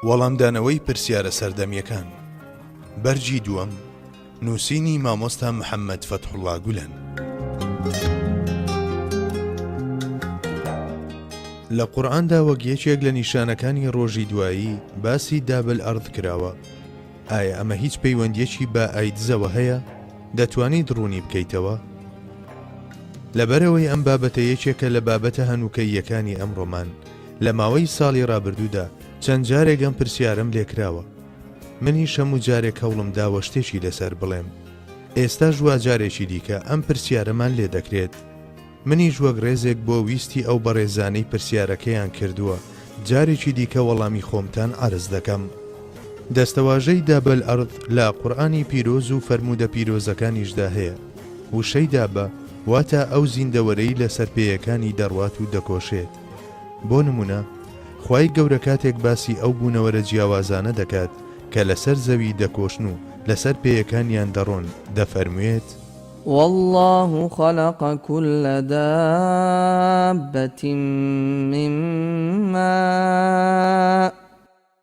وەڵامدانەوەی پرسیارە سەردەمیەکان بەرگی دووەم نووسینی مامۆستا محەممەد فەتحوڵا گولەن. لە قورآاندا وەک یەکێک لە نیشانەکانی ڕۆژی دوایی باسی دابل ئەرد کراوە ئایا ئەمە هیچ پەیوەندیەکی بە ئایدزەوە هەیە دەتوانیت ڕوونی بکەیتەوە لەبەرەوەی ئەم بابەتە یەکێکە لە بابەتە هەنووکەیەکانی ئەمڕۆمان لە ماوەی ساڵی ڕابردوودا چەند جارێک ئەم پرسیارەم لێکراوە منیش هەموو جارێک هەوڵم داوە شتێکی لەسەر بڵێم ئێستا ژوا جارێکی دیکە ئەم پرسیارەمان لێ دەکرێت منیش وەک ڕێزێک بۆ ویستی ئەو بەڕێزانەی پرسیارەکەیان کردووە جارێکی دیکە وەڵامی خۆمتان عرز دەکەم دەستەواژەی دابەل ئەرد لە قورآانی پیرۆز و فەرموودە پیرۆزەکانیشدا هەیە وشەی دابە واتە ئەو زیندەوەرەی لەسەر پێیەکانی دەڕوات و دەکۆشێت بۆ نمونە خوای گەورە کاتێک باسی ئەو بوونەوەرە جیاوازانە دەکات کە لەسەر زەوی دەکۆشن و لەسەر پێیەکانیان دەڕۆن دەفەرموێت. واللە خلق کل دابەتی من ماء.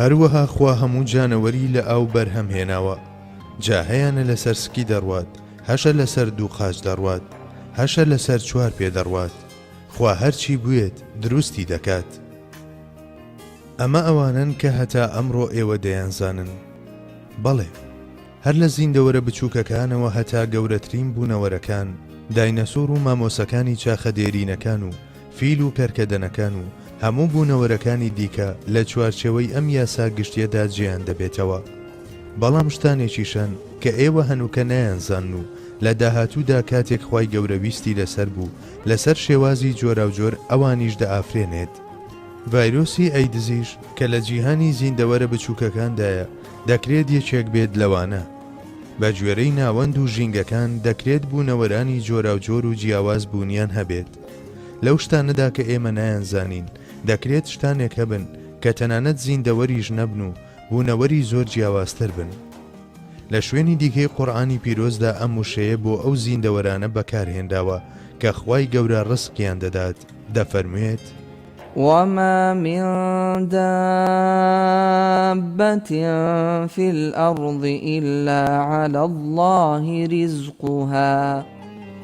هەروەها خوا هەموو جانەوەری لە ئاو بەرهەم هێناوە جا هەیانە لەسەر سکی دەڕوات هەشە لەسەر دوو قاچ دەڕوات هەشە لەسەر چوار پێ دەڕوات خوا هەرچی بوێت دروستی دەکات ئەمە ئەوانەن کە هەتا ئەمڕۆ ئێوە دەیانزانن بەڵێ هەر لە زیندەوەرە بچووکەکانەوە هەتا گەورەترین بوونەوەرەکان داینەسۆر و مامۆسەکانی چاخە دێرینەکان و فیل و پێرکەدەنەکان و هەموو بوونەوەرەکانی دیکە لە چوارچێوەی ئەم یاسا گشتیەدا جێیان دەبێتەوە بەڵام شتانێکیشان کە ئێوە هەنووکە نایانزان و لە داهاتوودا کاتێک خی گەورەویستی لەسەر بوو لەسەر شێوازی جۆراوجۆر ئەوانیش دەئافرێنێت ڤایرۆسی ئەیدزیش کە لە جیهانی زیندەوەرە بچووکەکاندایە دەکرێت یەکێک بێت لەوانە بە گوێرەی ناوەند و ژینگەکان دەکرێت بوونەوەرانی جۆراوجۆر و جیاواز بوونیان هەبێت لەو شتانەدا کە ئێمە نایانزانین، دەکرێت شتانێک هەبن کە تەنانەت زیندەوەریش نەبن و بوونەوەری زۆر جیاوازتر بن. لە شوێنی دیکەی قورئانی پیرۆزدا ئەم وشەیە بۆ ئەو زیندەوەرانە بەکارهێنراوە کە خوای گەورە ڕزقیان دەدات، دەفەرموێت. وما من دابة في الأرض إلا على الله رزقها.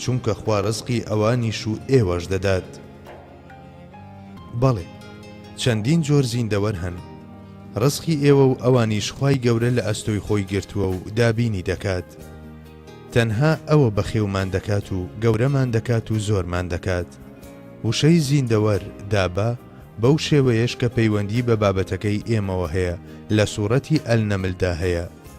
چونکە خوا ڕزقی ئەوانیش و ئێوەش دەدات. بەڵێ، چەندین جۆر زیندەوەر هەن، ڕزقی ئێوە و ئەوانیش خوای گەورە لە ئەستۆی خۆی گرتووە و دابینی دەکات. تەنها ئەوە بەخێومان دەکات و گەورەمان دەکات و زۆرمان دەکات. وشەی زیندەوەر، دابە، بەو شێوەیەش کە پەیوەندی بە بابەتەکەی ئێمەوە هەیە، لە سوڕەتی، النمل، دا هەیە.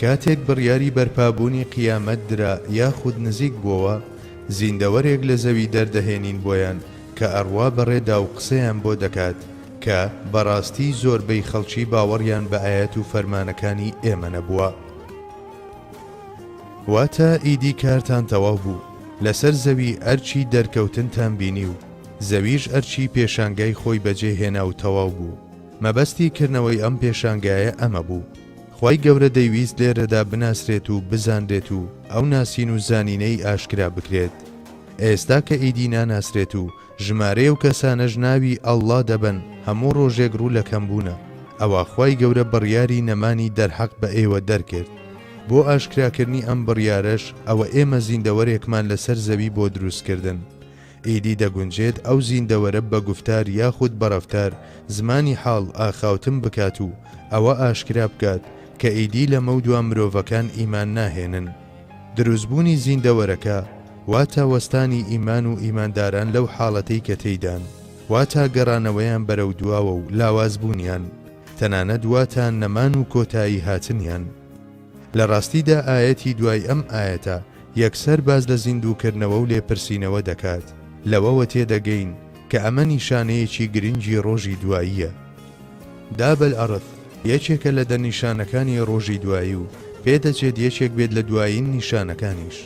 کاتێک بڕیاری بەرپابوونی قیامەت درا یاخود نزیک بووەوە، زیندەوەرێک لە زەوی دەردەهێنین بۆیان کە ئەڕوا بەڕێدا و قسەیان بۆ دەکات کە، بەڕاستی زۆربەی خەڵکی باوەڕیان بە ئایەت و فەرمانەکانی ئێمە نەبووە. واتە، ئیدی کارتان تەواو بوو، لەسەر زەوی ئەرکی دەرکەوتنتان بینی و زەویش ئەرکی پێشانگای خۆی بەجێ هێنا و تەواو بوو. مەبەستی کردنەوەی ئەم پێشانگایە ئەمە بوو. خوای گەورە دەیویست لێرەدا بناسرێت و بزانرێت و ئەو ناسین و زانینەی ئاشکرا بکرێت ئێستا کە ئیدی ناناسرێت و ژمارەی ئەو کەسانەش ناوی اللە دەبەن هەموو ڕۆژێک ڕوو لە کەم بوونە ئەوا خوای گەورە بڕیاری نەمانی دەرحەق بە ئێوە دەرکرد بۆ ئاشکراکردنی ئەم بڕیارەش ئەوە ئێمە زیندەوەرێکمان لەسەر زەوی بۆ دروستکردن ئیدی دەگونجێت ئەو زیندەوەرە بە گوفتار یاخود بە ڕەفتار زمانی حاڵ ئاخاوتن بکات و ئەوە ئاشکرا بکات کە ئیدی لەمەودوا مرۆڤەکان ئیمان ناهێنن. دروستبوونی زیندەوەرەکە واتا وەستانی ئیمان و ئیمانداران لەو حاڵەتەی کە تێیدان واتا گەڕانەوەیان بەرەو دواوە و لاوازبوونیان، تەنانەت واتا نەمان و کۆتایی هاتنیان. لە ڕاستیدا ئایەتی دوای ئەم ئایەتە یەکسەر باس لە زیندووکردنەوە و لێپرسینەوە دەکات، لەوەوە تێدەگەین کە ئەمە نیشانەیەکی گرنگی ڕۆژی دواییە. داب الارث یەکێکە لە دە نیشانەکانی ڕۆژی دوایی و پێدەچێت یەکێک بێت لە دوایین نیشانەکانیش.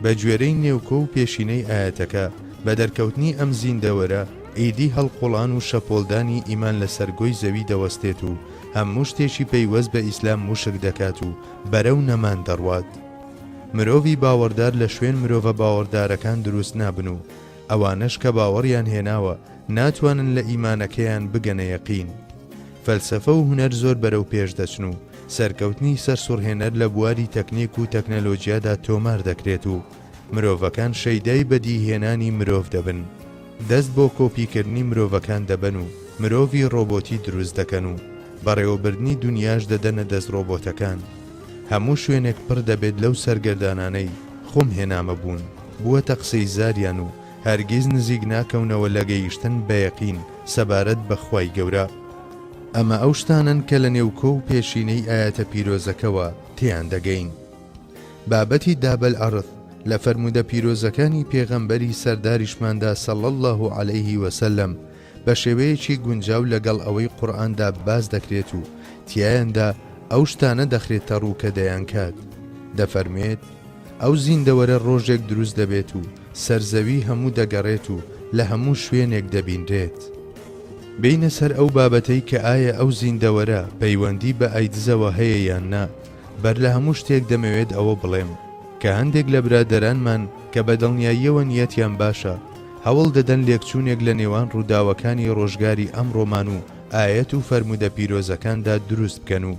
بە گوێرەی نێوکۆ و پێشینەی ئایەتەکە، بە دەرکەوتنی ئەم زیندەوەرە، ئیدی هەڵقوڵان و شەپۆڵدانی ئیمان لەسەر گۆی زەوی دەوەستێت و هەموو شتێکی پەیوەست بە ئیسلام موشک دەکات و بەرەو نەمان دەڕوات. مرۆڤی باوەڕدار لە شوێن مرۆڤە باوەڕدارەکان دروست نابن و ئەوانەش کە باوەڕیان هێناوە ناتوانن لە ئیمانەکەیان بگەنە یەقین. فەلسەفە و هونەر زۆر بەرەو پێش دەچن و سەرکەوتنی سەرسوڕهێنەر لە بواری تەکنیک و تەکنەلۆجیادا تۆمار دەکرێت و مرۆڤەکان شەیدای بەدی هێنانی مرۆڤ دەبن، دەست بۆ کۆپی کردنی مرۆڤەکان دەبەن و مرۆڤی ڕۆبۆتی دروست دەکەن و بەڕێوەبردنی دونیاش دەدەنە دەست ڕۆبۆتەکان. هەموو شوێنێک پڕ دەبێت لەو سەرگەردانانەی خۆم هێنامە بوون، بووەتە قسەی زاریان و هەرگیز نزیک ناکەونەوە لە گەیشتن بە یەقین سەبارەت بە خوای گەورە. ئەمە ئەو شتانەن کە لە نێوکۆ و پێشینەی ئایەتە پیرۆزەکەوە تێیان دەگەین. بابەتی داب الارض لە فەرموودە پیرۆزەکانی پێغەمبەری سەرداریشماندا صلی اللە علیه و سلم بە شێوەیەکی گونجاو لەگەڵ ئەوەی قورئاندا باس دەکرێت و تیایاندا ئەو شتانە دەخرێتە ڕوو کە دەیانکات دەفەرموێت ئەو زیندەوەرە ڕۆژێک دروست دەبێت و سەرزەوی هەموو دەگەڕێت و لە هەموو شوێنێک دەبینرێت. بێینە سەر ئەو بابەتەی کە ئایا ئەو زیندەوەرە پەیوەندی بە ئایدزەوە هەیە یان نا، بەر لە هەموو شتێک دەمەوێت ئەوە بڵێم کە هەندێک لە برادەرانمان کە بە دڵنیاییەوە نیەتیان باشە، هەوڵ دەدەن لێکچوونێک لە نێوان ڕووداوەکانی ڕۆژگاری ئەمڕۆمان و ئایەت و فەرموودە پیرۆزەکاندا دروست بکەن و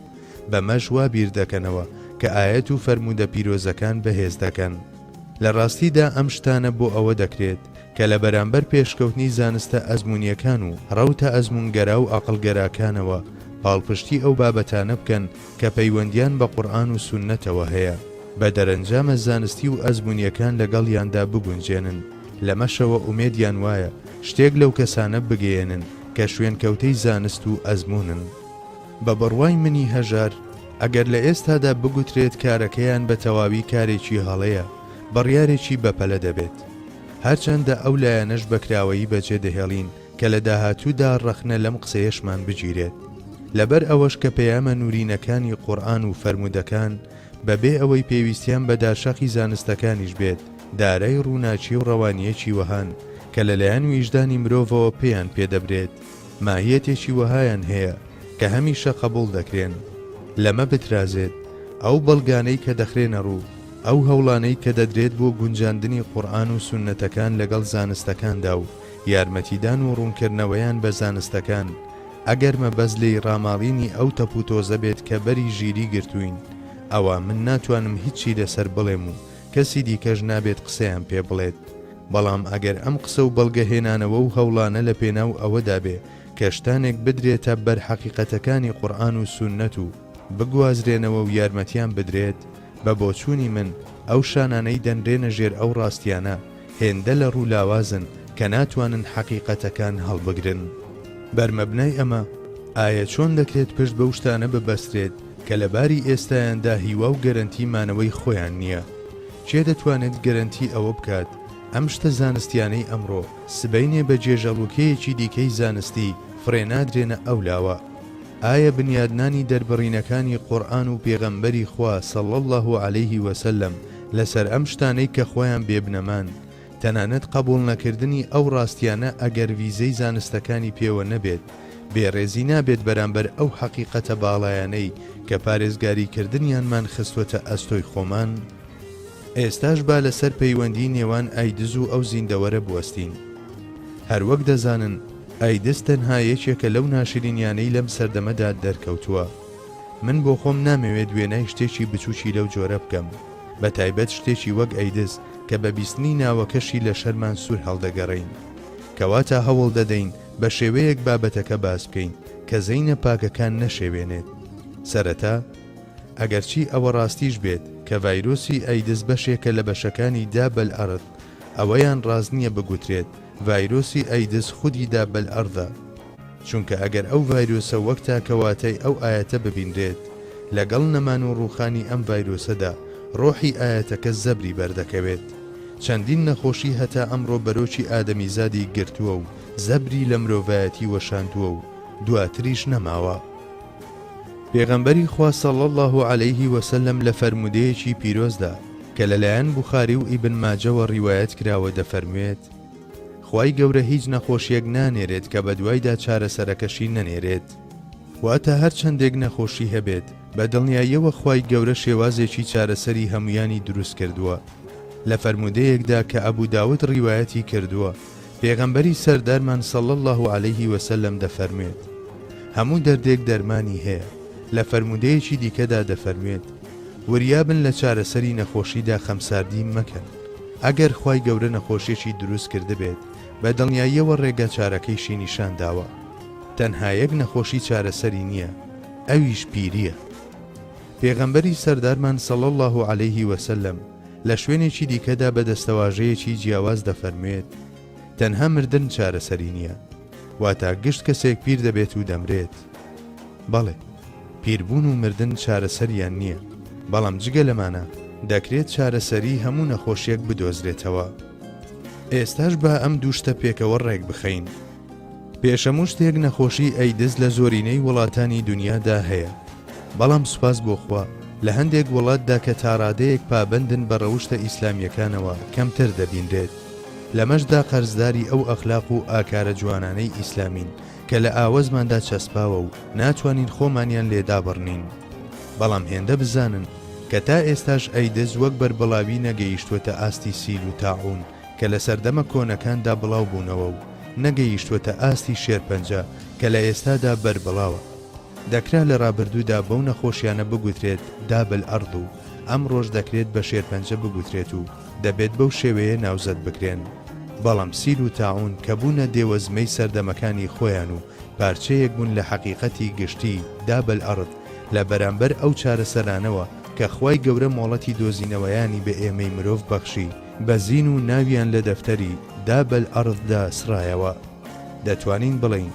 بەمەش وا بیر دەکەنەوە کە ئایەت و فەرموودە پیرۆزەکان بەهێز دەکەن. لە ڕاستیدا ئەم شتانە بۆ ئەوە دەکرێت کە لە بەرامبەر پێشکەوتنی زانستە ئەزموونییەکان و ڕەوتە ئەزموونگەرا و ئەقڵگەراکانەوە پاڵپشتی ئەو بابەتانە بکەن کە پەیوەندیان بە قورئان و سوننەتەوە هەیە، بە دەرەنجامە زانستی و ئەزمونیەکان لەگەڵیاندا بگونجێنن، لەمەشەوە ئومێدیان وایە شتێک لەو کەسانە بگەیەنن کە شوێنکەوتەی زانست و ئەزمونن. بە بڕوای منی هەژار، ئەگەر لە ئێستادا بگوترێت کارەکەیان بە تەواوی کارێکی هەڵەیە، بڕیارێکی بەپەلە دەبێت. هەرچەندە ئەو لایەنەش بەکراوەیی بەجێدەهێڵین، کە لە داهاتوودا ڕەخنە لەم قسەیەشمان بگیرێت، لەبەر ئەوەش کە پەیامە نوورینەکانی قورئان و فەرموودەکان بە بێ ئەوەی پێویستیان بە داشاخی زانستەکانیش بێت، دارای ڕووناکی و ڕەوانییەکی وەهان کە لە لایەن ویژدانی مرۆڤەوە پێیان پێ دەبرێت، ماهییەتێکی وەهایان هەیە کە هەمیشە قەبووڵ دەکرێن. لەمە بترازێت، ئەو بەڵگانەی کە دەخرێنە ڕوو، ئەو هەوڵانەی کە دەدرێت بۆ گونجاندنی قورئان و سوننەتەکان لەگەڵ زانستەکاندا و، یارمەتیدان و ڕوونکردنەوەیان بە زانستەکان، ئەگەر مەبەست لێی ڕاماڵینی ئەو تەپوتۆزە بێت کە بەری ژیری گرتووین، ئەوا من ناتوانم هیچی لەسەر بڵێم و کەسی دیکەش نابێت قسەیان پێ بڵێت، بەڵام ئەگەر ئەم قسە و بەڵگەهێنانەوە و هەوڵانە لە پێناو ئەوەدا بێ کە شتانێک بدرێتە بەر حەقیقەتەکانی قورئان و سوننەت و بگوازرێنەوە و یارمەتیان بدرێت، بە بۆچوونی من ئەو شانانەی دەنرێنە ژێر ئەو ڕاستیانە، هێندە لە ڕوو لاوازن کە ناتوانن حەقیقەتەکان هەڵبگرن. بەر مەبنای ئەمە، ئایا چۆن دەکرێت پشت بەو شتانە ببەسترێت کە لە باری ئێستایاندا هیوا و گەرەنتی مانەوەی خۆیان نییە؟ کێ دەتوانێت گەرەنتی ئەوە بکات ئەم شتە زانستیانەی ئەمڕۆ، سبەینێ بە جێژەڵوکەیەکی دیکەی زانستی فڕێنادرێنە ئەو لاوە؟ ئایا بنیادنانی دەربڕینەکانی قورئان و پێغەمبەری خوا صلی اللە علیه و سلم لەسەر ئەم شتانەی کە خۆیان بێ بنەمان، تەنانەت قەبوڵ نەکردنی ئەو ڕاستیانە ئەگەر ڤیزەی زانستەکانی پێوە نەبێت بێ ڕێزی نابێت بەرامبەر ئەو حەقیقەتە باڵایانەی کە پارێزگاری کردنیانمان خستوەتە ئەستۆی خۆمان؟ ئێستاش با لەسەر پەیوەندی نێوان ئایدز و ئەو زیندەوەرە بوەستین. هەروەک دەزانن ئایدز تەنها یەکێکە لەو ناشرینیانەی لەم سەردەمەدا دەرکەوتوە. من بۆخۆم نامەوێت وێنای شتێکی بچوکی لەو جۆرە بکەم بەتایبەت شتێکی وەک ئەیدز کە بە بیستنی ناوەکەشی لە شەرمان سور هەڵدەگەڕێین کەواتە هەوڵدەدەین بە شێوەیەک بابەتەکە باس بکەین کە زەینە پاکەکان نەشێوێنێت سەرەتا ئەگەرچی ئەوە ڕاستیش بێت کە ڤایرۆسی ئەیدز بەشێکە لە بەشەکانی دابل ئەرد ئەوەیان ڕاست نییە بگوترێت ڤایرۆسی ئەیدز خودی دابل ئەردە چونکە ئەگەر ئەو ڤایرۆسە وەک تاکە واتای ئەو ئایەتە ببینرێت، لەگەڵ نەمان و ڕووخانی ئەم ڤایرۆسەدا، ڕۆحی ئایەتەکە زەبری بەردەکەوێت. چەندین نەخۆشی هەتا ئەمڕۆ بەرۆکی ئادەمیزادی گرتووە و زەبری لە مرۆڤایەتی وەشاندووە و دواتریش نەماوە. پێغەمبەری خوا صلی اللە علیە وسلم لە فەرموودەیەکی پیرۆزدا کە لەلایەن بوخاری و ئیبن ماجەوە ڕیوایەت کراوە دەفەرموێت، خوای گەورە هیچ نەخۆشیەک نانێرێت کە بەدوایدا چارەسەرەکەشی نەنێرێت واتە هەرچەندێک نەخۆشی هەبێت بە دڵنیاییەوە خوای گەورە شێوازێکی چارەسەری هەمویانی دروست کردووە لە فەرموودەیەکدا کە ئەبو داود ڕیوایەتی کردووە پێغەمبەری سەردارمان صلی اللە علیه وسلم دەفەرموێت هەموو دەردێک دەرمانی هەیە لە فەرموودەیەکی دیکەدا دەفەرموێت وریابن لە چارەسەری نەخۆشیدا خەمساردی مەکەن ئەگەر خوای گەورە نەخۆشیەکی دروست کردبێت بە دڵنیاییەوە ڕێگا چارەکەیشی نیشان داوە تەنها یەک نەخۆشی چارەسەری نییە ئەویش پیریە پێغەمبەری سەردارمان صلی اللە علیه وسلم لە شوێنێکی دیکەدا بە دەستەواژەیەکی جیاواز دەفەرموێت تەنها مردن چارەسەری نییە، واتا گشت کەسێک پیر دەبێت و دەمرێت. بەڵێ، پیربوون و مردن چارەسەریان نییە، بەڵام جگە لەمانە دەکرێت چارەسەریی هەموو نەخۆشییەک بدۆزرێتەوە. ئێستاش با ئەم دوو شتە پێکەوە ڕێک بخەین. پێش هەموو شتێک نەخۆشیی ئەیدز لە زۆرینەی وڵاتانی دنیادا هەیە، بەڵام سوپاس بۆ خوا لە هەندێک وڵاتدا کە تاڕادەیەک پابەندن بە ڕەوشتە ئیسلامییەکانەوە کەمتر دەبینرێت. لەمەشدا قەرزداری ئەو ئەخلاق و ئاکارە جوانانەی ئیسلامین کە لە ئاوەزماندا چەسپاوە و ناتوانین خۆمانیان لێ دابڕنین. بەڵام هێندە بزانن کە تا ئێستاش ئەیدز وەک بەربڵاوی نەگەیشتووەتە ئاستی سیل و تاعوون کە لە سەردەمە کۆنەکاندا بڵاو بوونەوە و نەگەیشتووەتە ئاستی شێرپەنجە کە لە ئێستادا بەربڵاوە. دەکرا لە رابردوودا بەو نەخۆشیانە بگوترێت داب الارض و ئەمڕۆش دەکرێت بە شێرپەنجە بگوترێت و دەبێت بەو شێوەیە ناوزەد بکرێن بەڵام سیل و تاعون کە بوونە دێوەزمەی سەردەمەکانی خۆیان و پارچەیەک بوون لە حەقیقەتی گشتی داب الارض لە بەرامبەر ئەو چارەسەرانەوە کە خوای گەورە مۆڵەتی دۆزینەوەیانی بە ئێمەی مرۆڤ بەخشی بە زین و ناویان لە دەفتەری داب الارض دا سڕایەوە دەتوانین بڵێین.